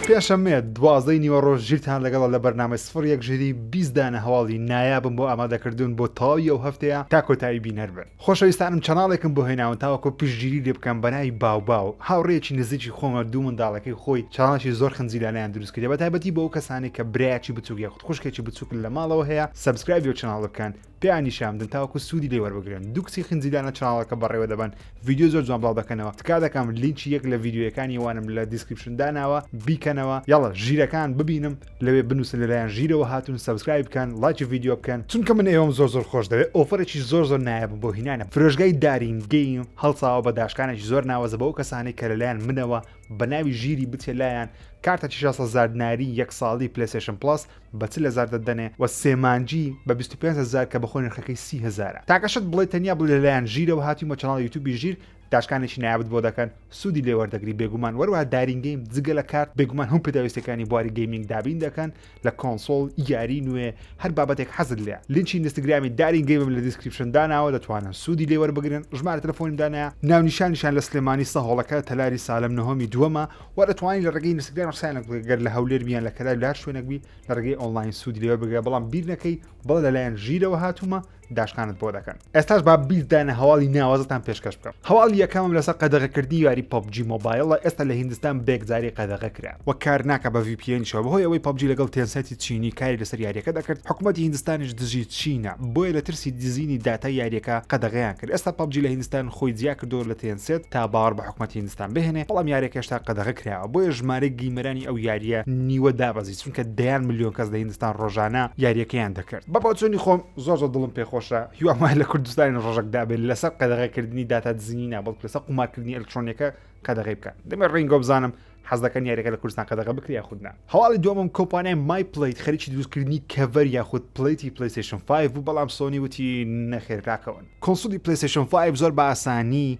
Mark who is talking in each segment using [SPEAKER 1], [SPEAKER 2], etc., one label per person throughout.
[SPEAKER 1] پێشەمێت دوازدەی نیوەڕۆژ ژیرتان لەگەڵ لە بەرنامەی سفر یەک ژیری بیستدانە هەواڵی نایابم بۆ ئامادەکردوون بۆ تەواوی ئەو هەفتەیە تا کۆتایی بینەر بن خۆشەویستانم چەناڵێکم بۆ هێناون تاوەکو پشتگیری لێ بکەم بەناوی باوباو هاوڕێکی نزیکی خۆمە دوو منداڵەکەی خۆی چاڵانشی زۆر خنجیلانیان دروست کردە بە تایبەتی بۆ ئەو کەسانی کە برایەکی بچووک یاخود خوشکێکی بچووکن لە ماڵەوە هەیە سەبسکرایبی و چەناڵ بکەن پێیان نیشان بدەن تاوەکو سوودی لێ وەربگرن دوو کچی خنجی دانە چاڵەکە بەڕێوە دەبەن ڤیدیو زۆر جوان بڵاو دەکەنەوە تکا دەکەم لینکی یەک لە ڤیدیویەکانی وانم لە دیسکریپشن داناوە بیکەنەوە یاڵە ژیرەکان ببینم لەوێ بنووسن لەلایەن ژیرەوە هاتوون سەبسکرایب بکەن لایکی ڤیدیو بکەن چونکە من ئێوەم زۆر زۆر خۆش دەوێت ئۆفەرێکی زۆر زۆر نایابم بۆ هینانە فرۆشگای دارین گەیم هەڵساوە بە داشکانێکی زۆر ناوەزە بەو کەسانی کە لەلایەن منەوە بە ناوی ژیری بچێ لایان کارتە 600 هەزار دیناری یەک ساڵی پلەیستێشن پڵەس بە چل هەزار دەتدەنێ و سێ مانگی بە بیست و پێنج هەزار کە بە خۆی نرخەکەی سی هەزارە تاکە شت بڵێ تەنیا بڵێ لەلایەن ژیرەوە هاتووین بە چەناڵی یوتوبی ژیر داشکانێکی نایابت بۆ دەکەن سوودی لێ وەردەگری بێگومان وەروەها دارین گەیم جگە لە کارت بێگومان هەموو پێداویستەکانی بواری گەیمینگ دابین دەکەن لە کۆنسۆڵ یاری نوێ هەر بابەتێک حەزت لێ لینکی ئینستاگرامی دارین گەیمم لە دیسکریپشن داناوە دەتوانن سوودی لێ وەربگرن ژمارە تەلەفۆنیم دانایە ناونیشانیشان لە سلێمانی سەهۆڵەکە تەلاری سالم نهۆمی دووەمە وا دەتوانی لە ڕێگەی ئینستاگرام قسەیان لەگەڵ بکەی گەر لە هەولێر بی یان لە کەلار بی لە هەر شوێنێک بی لە ڕێگەی ئۆنڵاین سوودی لێوە بگرە بەڵام بیر نەکەی بڵێ لەلایەن ژیرەوە هاتوومە داشکانت بۆ دەکەن ئێستاش با بیردانە هەواڵی ناوازەتان پێشکەش بکەم هەواڵی یەکەمم لەسەر قەدەغەکردنی یاری پەبجی مۆبایلە ئێستا لە هیندستان بێکجاری قەدەغە کرا وە کار ناکە بە VPN شەوە بەهۆی ئەوەی پەبجی لەگەڵ تێنسێتی چینی کاری لەسەر یاریەکە دەکرد حکوومەتی هیندستانیش دژی چینە بۆیە لە ترسی دزینی داتای یاریەکە قەدەغەیان کرد ئێستا پەبجی لە هیندستان خۆی جیا کردەوە لە تێنسێت تا باوەڕ بە حکومەتی هندستان بهێنێ بەڵام یاریەکە هێشتا قەدەغە کراوە بۆیە ژمارەی گیمەرانی ئەو یاریە نیوە دابەزی چونکە دەیان ملیۆن کەس لە هندستان ڕۆژانە یاریەکەیان دەکرد بە بۆچوونی خۆم زۆر زۆر دڵم پێخۆشە هیوام وایە لە کوردستانی ڕۆژەک دابێت لەسەر قەدەغەکردنی داتا دزینی نا بەڵکو لەسەر قومارکردنی ئەلکترۆنیەکە قەدەغەی بکات دەمێ ڕینگۆ بزانم حەز دەکەن یاریەکە لە کوردستان قەدەغە بکرێ یاخود نا هەواڵی دووەمم کۆمپانیای مای پلیت خەریکی دروستکردنی کەڤەر یاخود پلیتی پلیستیشن 5 بوو بەڵام سۆنی وتی نەخێر راکەون کۆنسولی پلیستیشن 5 زۆر بە ئاسانی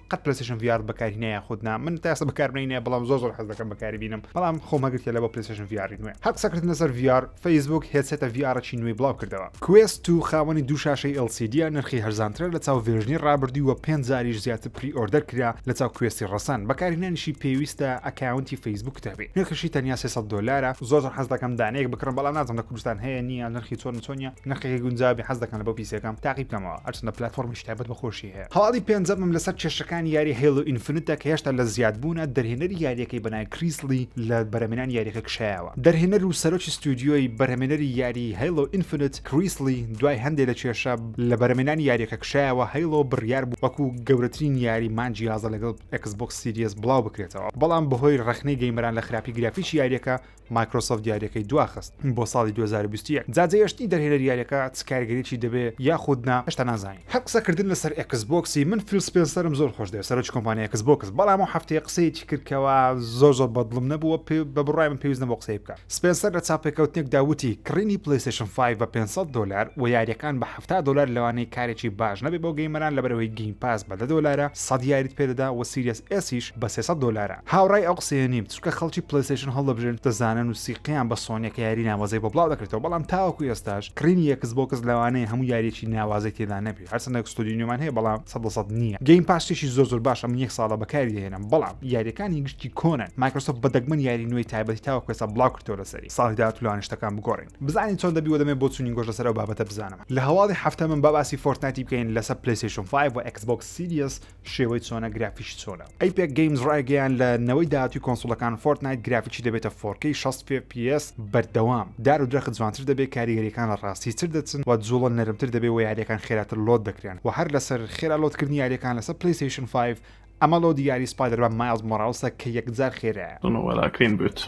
[SPEAKER 1] قەت پلەسشم ڤار بەکاری نە یاخود نا من تاسە بەکاربنی نە بەڵام زۆر زۆر حەز دەکەم بەکاری بینم بەڵام خۆم هەگرت لە بۆ پلسشن ڤاری نوێ هەق سەکرت نەسەر ڤار فەیسبوک هێسێتە ڤارەی نوێی بڵاو کردەوە کوێست و خاوەنی دوو شاشەی LCDە نرخی هەرزانترە لە چاو ڤێژنی ڕابردووی وە پێنج زاریش زیاتر پری ئۆردەر کرا لە چاو کوێستی ڕەسەن بەکاری نانیشی پێویستە ئەکاونتی فەیسبوک تابێ نرخشی تەنیا 300 دۆلارە زۆر حەز دەکەم دانەیەک بکڕم بەڵام نازم لە کوردستان هەیە نییە نرخی چۆن چۆنە نرخی گونجاوی حەز دەکەن لە بۆ پیسەکەم تاقی بکەمەوە ئەرچندە پلتفۆرمی شتابەت بەخۆشی هەواڵی پێنجەمم لەسەر کێشەکانی یاری هەیڵۆ ئینفنتە کە هێشتا لە زیادبوونە، دەرهێنەری یارییەکەی بە ناوی کریس لی لە بەرهەمێنانی یارییەکە کشایەوە. دەرهێنەر و سەرۆکی ستۆدیۆی بەرهەمێنەری یاریی هەیڵۆ ئینفنت، کریس لی دوای هەندێ لە کێشە لە بەرهەمێنانی یارییەکە کشایەوە، هەیڵۆ بڕیار بوو وەکو گەورەترین یاری مانگی یازدە لەگەڵ ئێکس بۆکس سیریەس بڵاو بکرێتەوە، بەڵام بەهۆی ڕەخنەی گەیمەران لە خراپی گرافیکی یارییەکە مایکرۆسۆفت یاریەکەی دواخست بۆ ساڵی دوو هەزار و بیست و یەک جا جێهێشتنی دەرهێنەری یاریەکە چ کاریگەریەکی دەبێ یاخود نا هێشتا نازانین. هەر قسە کردن لەسەر ئێکس بۆکسی من فیل سپێنسەرم زۆر خۆش دەوێ سەرۆکی کۆمپانیای ئێکس بۆکس بەڵام ئەو هەفتەیە قسەیەکی کرد کەوا زۆر زۆر بەدڵم نەبوو وە پێ بە بڕای من پێویست نەبوو قسەی بکا سپێنسەر لە چاوپێکەوتنێکدا وتی کڕینی پلەیستەیشن فایڤ بە پێنج سەد دۆلار وە یاریەکان بە حەفتا دۆلار لەوانەیە کارێکی باش نەبێ بۆ گەیمەران لەبەر ئەوەی گەیم پاس بە دە دۆلارە سەد یاریت پێ دەدا وە سیریەس ئێسیش بە سێ سەد دۆلارە هاوڕای ئەو قسەیە نیم چونکە خەڵکی پلەیستەیشن هەڵدەبژێرن دەزانن و سیقەیان بە سۆنیە کە یاری ناوازەی بۆ بڵاو دەکرێتەوە بەڵام تاوەکو ئێستاش کڕینی ئێکس بۆکس لەوانەیە هەموو یاریەکی ناوازەی تێدا نەبێ هەرچەندە ستۆدیۆی نوێمان هەیە بەڵام سەد لە سەد نییە گەیم پاس شتێکی زۆر زۆر باشە من یەک ساڵە بەکاری دەهێنم بەڵام یاریەکانی گشتی کۆنن مایکرۆسۆفت بە دەگمەن یاری نوێی تایبەتی تاوەکو ئێستا بڵاو کردووە لەسەری ساڵی داهاتوو لەوانەیە شتەکان بگۆڕین بزانین چۆن دەبی و دەمێ بۆ چونینگۆش لەسەر ئەو بابەتە بزانم لە هەواڵی هەفتەمەم با باسی فۆرتنایتی بکەین لەسەر پلەیستەیشن فایڤ و ئێکس بۆکس سیریەس شێوەی چۆنە گرافیکی چۆنە ئەیپێک گەیمز ڕایگەیان لە نەوەی داهاتوی کۆنسڵەکان فۆرتنایت گرافیکی دەبێتە فۆرکەی 16 پس بەردەوام دار و درەخت جوانتر دەبێت کاریگەریەکان لە ڕاستی تر دەچن و جوڵە نەرمتر دەبێت و یاریەکان خێراتر لۆت دەکرێن و هەر لەسەر خێرا لۆتکردنی یاریەکان لەسەر پلەیستەیشن 5 ئەمە لۆدی یاری سپایدەرمان مایڵز مۆراڵسە کە یەکجار خێرایە وەلاکەین بێت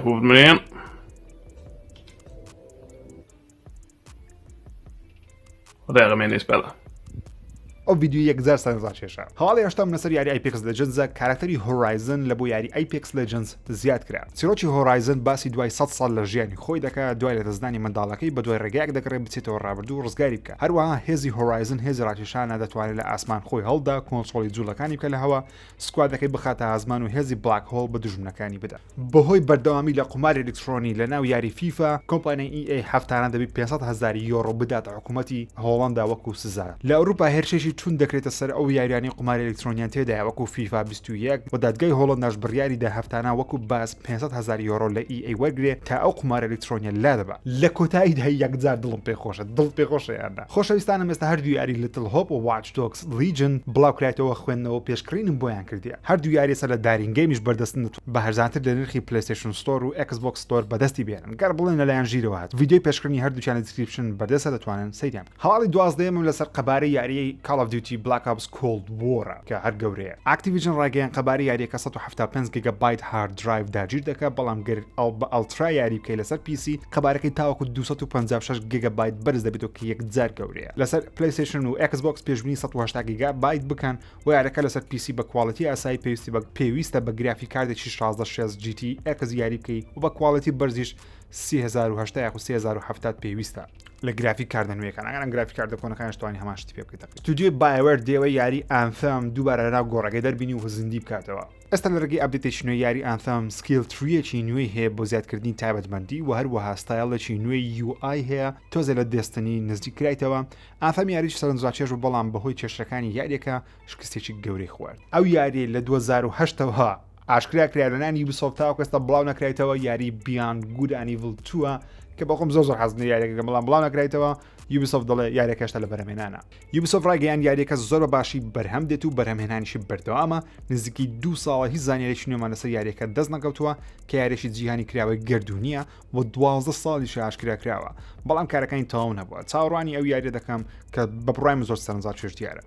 [SPEAKER 2] هوبمرێن ڕێغمێنێس بەڵە ئەو
[SPEAKER 1] ویددیو یەکجار سەرزان شێشە هەواڵی هشتم لەسەر یاری ئایپکس لە جنزە کارکتەری هۆرایزن لە بۆ یاری ئایپکس لە جنس زیاد کرا چیرۆکی هۆرایزن باسی دوای سە ساڵ لە ژیانی خۆی دەکە دوای لە دەستدانی منداڵەکەی بە دوای ڕێگەیەک دەگەڕێ بچێتەوە ڕابردوو ڕزگاری بکە هەروەها هێزی هۆرایزن هێزی ڕاکیشانە دەتوانێت لە ئاسمان خۆی هەڵدا کۆنسۆڵی جوڵەکانی بکە لە هەوا سکوادەکەی بخاتە ئازمان و هێزی بلاک هۆڵ بە دوژمنەکانی بدات. بەهۆی بەردەوامی لە قوماری ئەلیکترۆنی لەناو یاری فیفا، کۆمپانیای EA هەفتانە دەبێت پێنج سەد هەزار یۆرۆ بداتە حکومەتی هۆڵەندا وەکو سزا. لە ئەوروپا هێرشێکی توند دەکرێتە سەر ئەو یاریانەی قوماری ئەلیکترۆنیان تێدایە وەکو فیفا بیست و یەک، و دادگای هۆڵەنداش بڕیاریدا هەفتانە وەکو باج پێنج سەد هەزار یۆرۆ لە EA وەرگرێت تا ئەو قومارە ئەلیکترۆنیە لادەبات. لە کۆتاییدا یەکجار دڵم پێخۆشە. دڵت پێخۆشە یان نا؟ خۆشەویستانم ئێستا هەردوو یاری Little Hope و Watch Dogs لیجن، بڵاوکرایتەوە خوێندنەوەو پێشکڕینم بۆیان کردیە هەردوو یاریەسە لە دارین گەیمیش بەردەستن دەتوانم بە هەرزانتر لە نرخی پلەیستەیشن ستۆر و ئێکس بۆکس ستۆر بەدەستی بێنن گەر بڵێن لەلایەن ژیرەوە هات ڤیدیۆی پێشکڕینی هەردووکیان لە دیسکریپشن بەردەستە دەتوانن سەیریان بکەن هەواڵی دوازدەیەمم لەسەر قەبارەی یاریەی کاڵ ئۆف دیوتی بلاک ئۆپس کۆڵد وۆرە کە هەر گەورەیە ئاکتیڤیژن ڕایگەیان قەبارەی یاریەکە سەد و حەفتا و پێنج گیگا بایت هارد درایڤ داگیر دەکا بەڵام گەر ئەڵ بە ئەڵترا یاری بکەی لەسەر پیسی قەبارەکەی تاوەکو دوو سەد و پەنجا و شەش گیگا بایت بەرز دەبێتەوە کە یەکجار گەورەیە لەسەر پلەیستەیشن و ئێکس بۆکس پێشبنی 180 گیگا بایت بکەن و یارەکە لەسەر پیسی بە کواڵەتی ئاسایی پێویستی بە پێویستە بە گرافی کاردێکی 1660 GT ئێکس یاری بکەی و بە کواڵەتی بەرزیش 3080 یاخو 3070 پێویستە لە گرافی کاردە نوێەکان ئەگەرم گرافی کاردە کۆنەکان شتوانی هەماشتی پێ بکەیت توودیوی بایوەر دێوە یاری ئامفم دووبارە لەناو گۆڕەکەی دەربینی و زیندی بکاتەوە ئێستا لە ڕێگەی ئەپدەیتێکی نوێ یاری ئانثەم سکیل ترییەکی نوێی هەیە بۆ زیادکردنی تایبەتمەندی و هەروەها ستایلێکی نوێی یوآی هەیە تۆزە لە دەستنی نزیک کرایتەوە ئاثەم یاریی سەرنجڕاکێش و بەڵام بەهۆی کێشەکانی یاریەکە شکستێکی گەورەی خوارد ئەو یاری لە 2010ەوە ئاشکرا کرا لە نانی یوبیسۆفت تاوەکە ئێستا بڵاو نەکرایتەوە یاری بیان گود ئەنیڤل تووە کە بەخۆم زۆر زۆر حەزم لە یاریەکەکە بەڵام بڵاو نەکرایتەوە یوبیسۆفت دەڵێ یاریەکە هێشتا لە بەرهەمێنانە یوبیسۆفت ڕایگەیان یاریەکە زۆر بە باشی بەرهەم دێت و بەرهەمهێنانیشی بەردەوامە نزیکی دوو ساڵە هیچ زانیارێکی نوێمان لەسەر یاریەکە دەست نەکەوتووە کە یاریێکی جیهانی کراوەی گردردونیە و دوازدە ساڵی شاشکرا کراوە بەڵام کارەکانی تەواو نەبووە چاوەڕوانی ئەو یاریە دەکەم کە بە بڕایم زۆر سەرنجا چێژ دیارە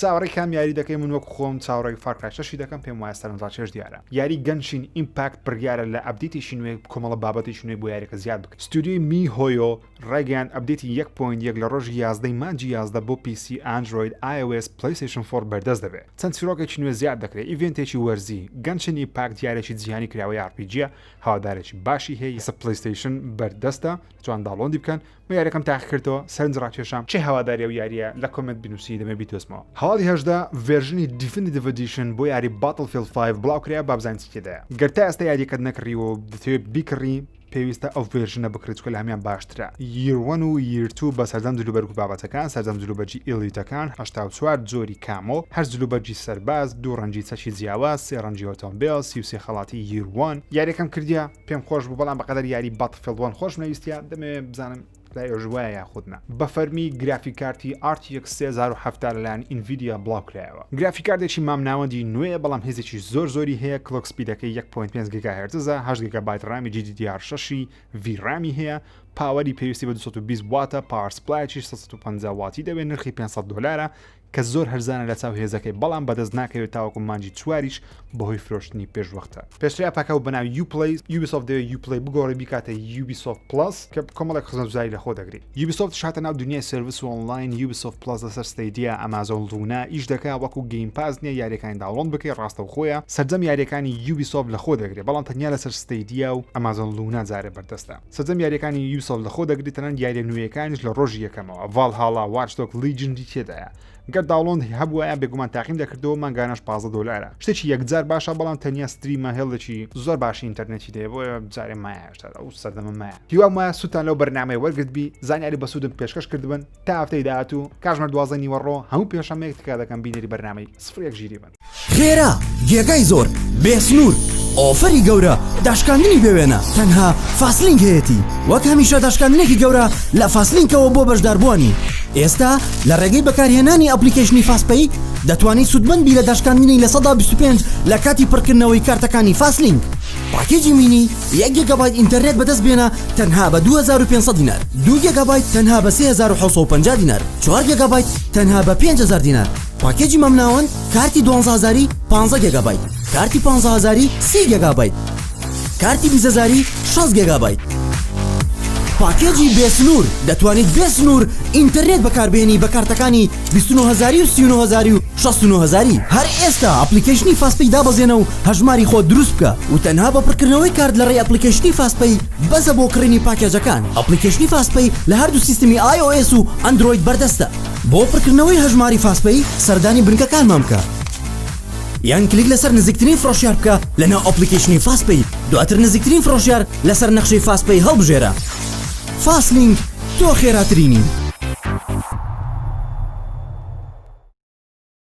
[SPEAKER 1] چاوەڕێی کام یاری دەکەی من وەک خۆم چاوەڕێی فار کرای شەشی دەکەم پێم وایە سەرنجڕاکێش دیارە یاری گەنشین ئیمپاکت بڕیارە لە ئەبدیتێکی نوێ کۆمەڵە بابەتێکی نوێ بۆ یاریەکە زیاد بکە ستودیۆی می هۆیۆ ڕایگەیان ئەبدێتی یەک پۆینت یەک لە ڕۆژی یازدە ی مانگی یازدە بۆ پی سی ئەندرۆید ئایۆئێس پلەیستەیشن فۆڕ بەردەست دەبێت چەند چیڕۆکێکی نوێ زیاد دەکرێت ئیڤێنتێکی وەرزی گەنشین ئیمپاکت یارێکی جیهانی کراوەی ئاڕ پی جیە هەوادارێکی باشی هەیە ئێستا پلەیستەیشن بەردەستە دەتوان داڵۆندی بکەن من یاریەکەم تاقی کردەوە سەرنج ڕاکێشام کێ هەواداری ئەو یاریە لە کۆمێنت بنوسی دەمێ بیدۆزمەوە هەواڵی هەژدە ڤێرژنی دیفنیتڤ ئەدیشن بۆ یاری باتڵ فیڵد فایڤ بڵاو کرایە با بزانین چی تێدایە گەر تا ئێستا یاریەکەت نەکڕیوە و دەتەوێت بیکڕی پێویستە ئەو ڤێرژنە بکڕی چکە لە هەمیان باشترە ییر وەن و ییر تو بە سەردەم جلوبەرگ و بابەتەکان سەردەم جلوبەرگی ئیڵیتەکان هەشتا و چوار جۆری کامۆ هەشت جلوبەرگی سەرباز دوو ڕەنگی چەکی جیاواز سێ ڕەنگی ئۆتۆمبێل سی و سێ خەڵاتی ییر وەن یاریەکەم کردیە پێم خۆش بوو بەڵام بەقەدەر یاری فلوان خۆشم نەویستە دەمەوێت بزانم لای ئۆژوایە یاخودنا بەفەرمی گرافی کارتی ئارتیەک 3070 لەلایەن ئینڤیدیا بڵاوکرایەوە گرافی کاردێکی مامناوەندی نوێیە بەڵام هێزێکی زۆر زۆری هەیە کلۆک سپیدەکەی 1.5 گیگا هێرتزە هەشت گیگا بایت ڕامی GDDR 6 وی ڕامی هەیە پاوەری پێویستی بە 220 واتە پاوەر سپلایەکی 150 واتی دەوێت نرخی 500 دلارە کە زۆر هەرزانە لە چاو هێزەکەی بەڵام بەدەست ناکەوێت تاوەکو مانگی چواریش بەهۆی فرۆشتنی پێشوەختە. پێشتر ئەپەکە بە ناوی Uplay، Ubisoft دەوێت Uplay بگۆڕی بیکاتە Ubisoft Plus کە کۆمەڵێک خزمەتگوزاری لەخۆ دەگرێت. Ubisoft-ش هاتە ناو دونیای سێرڤس و ئۆنڵاین، Ubisoft Plus لەسەر Stadia، Amazon Luna، ئیش دەکات، وەکو Game Pass نییە یارییەکانی داوڵۆند بکەیت، ڕاستەوخۆیە سەرجەم یارییەکانی Ubisoft لەخۆ دەگرێت بەڵام تەنیا لەسەر Stadia و Amazon Luna جارێ بەردەستە. سەرجەم یاریەکانی یوسف لەخۆ دەگری تەنان یاریە نوێیەکانیش لە ڕۆژی یەکەمەوە ڤال هاڵا وارشتۆک لیجندی تێدایە گەر داڵۆند هەبووە بێگومان تاقیم دەکردەوە مانگانەش پازە دۆلارە شتێکی یەکجار باشە بەڵام تەنیا ستریمە هێڵێکی زۆر باشی ئینتەرنێتی دەیە بۆ جارێ مایاشتار ئەو سەردەمە مایە هیوام وایە سووتان لەو بەرنمەی وەرگرت بی زانیاری بەسوودم پێشکەش کردبن تا هەفتەی داهاتوو کاژمەر دوازدە نیوەڕۆ هەموو پێشەمەیەک تکا دەکەم بینەری بەرنمەی سفر یەک ژیری بن خێرا
[SPEAKER 3] جێگای زۆر بێ سنوور ئۆفەری گەورە داشکاندنی بێوێنە تەنها فاسلینگ هەیەتی وەک هەمیشە داشکاندنێکی گەورە لە فاسلینکەوە بۆ بەشداربووانی ئێستا لە ڕێگەی بەکارهێنانی ئەپلیکەیشنی فاسپەی دەتوانانی سوودمەند بی لە داشکاندنی لە سەدا 25 لە کاتی پڕکردنەوەی کارتەکانی فاسلینگ پاکێجی مینی یەک گێگابایت ئینتەرنێت بەدەست بێنە تەنها بە 2500 دینار دوو گێگابایت تەنها بە 3750 دینار چوار گێگابایت تەنها بە 5000 دینار پاکێجی مامناوەند کارتی دوانزە هەزاری پانزە گێگابایت کارتی پانزە هەزاری سی گێگابایت کارتی بیست هەزاری شەست گێگابایت پاکێجی بێ سنوور دەتوانیت بێ سنوور ئینتەرنێت بەکاربێنی بە کارتەکانی بیست و نۆ هەزاری و سی و نۆ هەزاری و شەست و نۆ هەزاری هەر ئێستا ئەپڵیکەیشنی فاست پەی دابەزێنە و هەژماری خۆت دروست بکە و تەنها بە پڕکردنەوەی کارت لە ڕێی ئەپڵیکەیشنی فاست پەی بەسە بۆ کڕینی پاکێجەکان ئەپڵیکەیشنی فاست پەی لە هەردوو سیستمی ئای ئۆ ئێس و ئەندرۆید بەردەستە. بۆ پڕکردنەوەی هەژماری فاستپەی سەردانی بنکەکانمان بکە یان کلیک لەسەر نزیکترین فرۆشیار بکە لەناو ئەپلیکیشنی فاستپەی دواتر نزیکترین فرۆشیار لەسەر نەخشەی فاستپەی هەڵبژێرە فاستلینک تۆ خێراترینی.